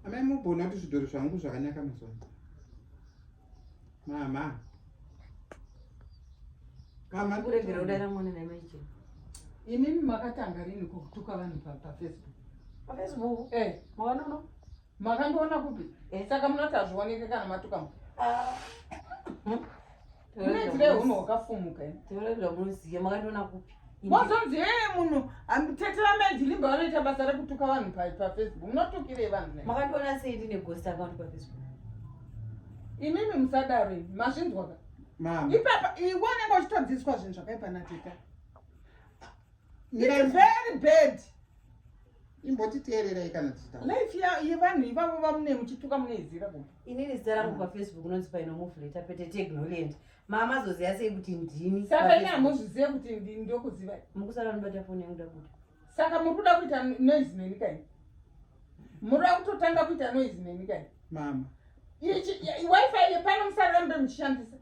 Amai mubona kuti zvidhori zvangu zvakanaka mazuva ano. Mama. Mama kuregera kudaira mwana na mai chero. Imimi makatanga rini kutuka vanhu pa pa Facebook. Pa Facebook? Eh, mwana uno. Makandiona kupi? Eh, saka munoti azvioneke kana matuka. Ah. mozonzi ee munhu tete vamai jilimba vanoita basa rekutuka vanhu pafacebook munotukirei vanhu makandiona sei ndine ghost account pafacebook imimi musadaro imi mazvinzwaka ipapa iwe unenge uchitodzidziswa zvinhu zvakaipa nateta very bad imbotiteererai kana tichita life yevanhu ivavo vamune muchituka munoiziva ku inini zita rangu pafacebook unonzi painomufleta pete tegnolent mama zoziva sei kuti ndini saka ini hamuzvizive kuti ndini ndokuziva mukusara nobata foni yangu dakuda saka muri kuda kuita noise neni kai muri kuda kutotanga kuita noise neni kai mama wifi yepano musara rambe muchishandisa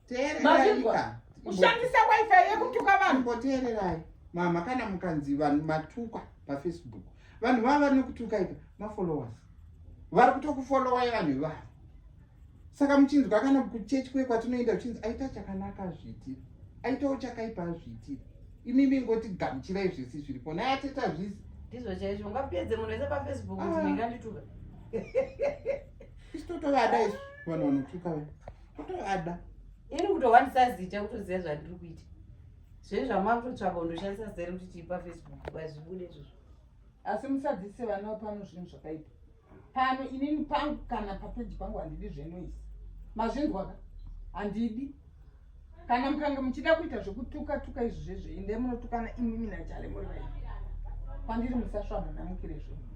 teererai kushandisa wifi yekutuka vanhu koteererai mama kana mukanzi vanhu matukwa pafacebook vanhu vava vari nekutuka ika mafollowers vari kutokufollowai vanhu ivavo saka muchinzwa kana kuchechi kwe kwatinoenda kuchinzi aita chakanaka azviitira aitawo chakaipa azviitira imimi ingoti gamuchirai zvese zviripo naye ateta zvisi ndizvo chaizvo ungapedze munhu wese pafacebook kuti ah. ndingandituka isu totovada isu vanhu vanotuka vaa kutoada ini kutowanisa zita kutoziva zvandiri kuita zvei zvamakutotsvaka undoshandisa zita rekuti tiipa facebook vazvibude izvozvo asi musadzise vana pano zvinhu zvakaipa pano inini pangu kana papeji pangu handidi zvenoisi mazvinzwaka handidi kana mukange muchida kuita zvekutuka tuka izvi zvezve inde munotukana imimi nachale muri vai kwandiri musasvamhanamukire zvenyu